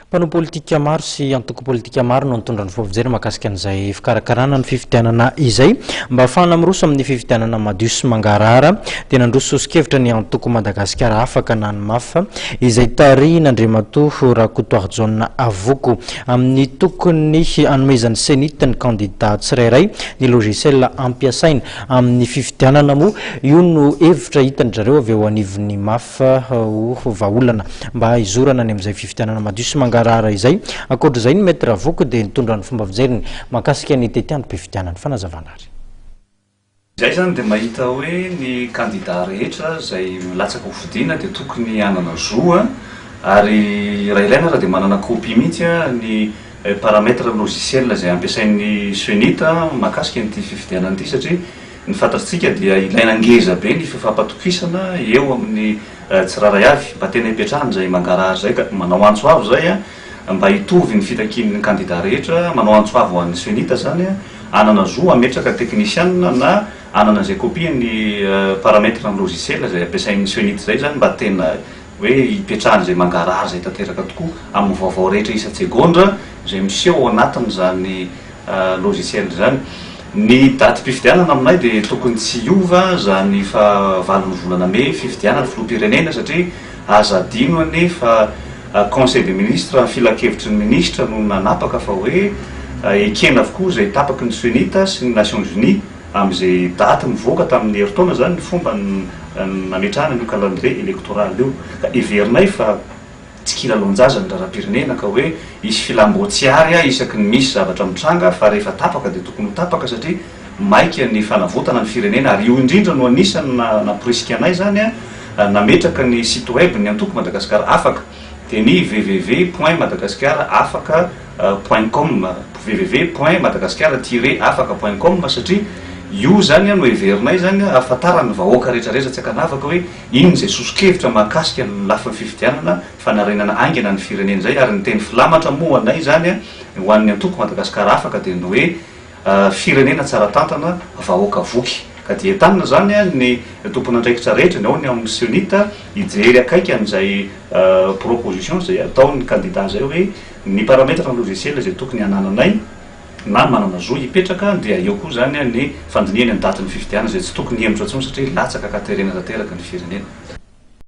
Mpanao politika maro sy antoko politika maro no nitondra ny fofijery mahakasika an'izay fikarakarana ny fifidianana izay. Mba hahafahana miroso amin'ny fifidianana madio sy mangarahara dia nandroso soso-kevitra ny antoko Madagasikara Afaka na ny maf, izay tarihin'Andriamatoa Rakotoarijaona Avoko, amin'ny tokony hanomezan'ny Cenit ny kandida tsirairay ny logiciel hampiasaina amin'ny fifidianana moa io no hevitra hitan-dry zareo avy eo anivon'ny maf. fa ho vahaolana mba hizorana any amin'izay fifidianana madio sy mangarahara izay. Ankoatr'izay, ny Maître Ravoko dia nitondra ny fomba fijeriny mahakasika ny tetiandrom-pifidianana. Fanazavana ary. Izay izany dia mahita hoe ny kandida rehetra izay milatsaka ho fidiana dia tokony hanana zo ary raha ilaina aza dia manana copie mihitsy ny paramètre logiciel izay ampiasain'ny Cenit mahakasika an'ity fifidianana ity satria Ny fantatsika dia ilaina ngeza be ny fifampatokisana eo amin'ny tsirairay avy mba tena hipetrahana izay mangarahara izay ka manao antso avo izay mba hitovy ny fitakian'ny kandida rehetra, manao antso avo ho an'ny Cenit izany hanana zo hametraka teknisianina na hanana izay kopian'ny paramètre ny logiciel izay ampiasain'ny Cenit izay izany mba tena hoe hipetrahana izay mangarahara izay tanteraka tokoa amin'ny vaovao rehetra isan-tsegondra izay miseho ao anatin'izany logiciel izany. Ny datim-pifidianana aminay dia tokony tsy hiova izany fahavalon'ny volana mey fifidianana filoham-pirenena satria aza adino anie fa conseil des ministres, filankevitry ny minisitra no nanapaka fa hoe ekena avokoa izay tapaky ny Cenit sy ny Nations Unies amin'izay daty nivoaka tamin'ny herintaona izany ny fomba nametrahana an'io calendrier électoral io ka heverinay fa Tsy kilalao-jaza ny raharaham-pirenena ka hoe hisy filam-boa tsy ary isaky ny misy zavatra mitranga fa rehefa tapaka dia tokony ho tapaka satria maika ny fanavotana ny firenena ary io indrindra no anisany namporisika anay izany nametraka ny site web ny antoko Madagascar afaka dia ny www point madagascar afaka point com www point madagascar tiret afaka point com satria io izany no heverinay izany hahafantaran'ny vahoaka rehetrarehetra tsy ankanavaka hoe Inona izay soso-kevitra mahakasika ny lafiny fifidianana, fanarenana haingana ny firenena izay ary ny teny filamatra moa ho anay izany, ho an'ny antoko Madagascar Afaka dia ny hoe firenena tsara tantana, vahoaka voky. Ka dia entanina izany ny tompon'andraikitra rehetra, ny ao ny amin'ny Cnit, hijery akaiky an'izay proposition izay ataon'ny kandida izay hoe ny parametres-n'ny logiciel izay tokony hanananay, na manana zo hipetraka dia eo koa izany ny fandinihany ny datin'ny fifidianana izay tsy tokony hihemotra intsony satria latsaka ka terena tanteraka ny firenena.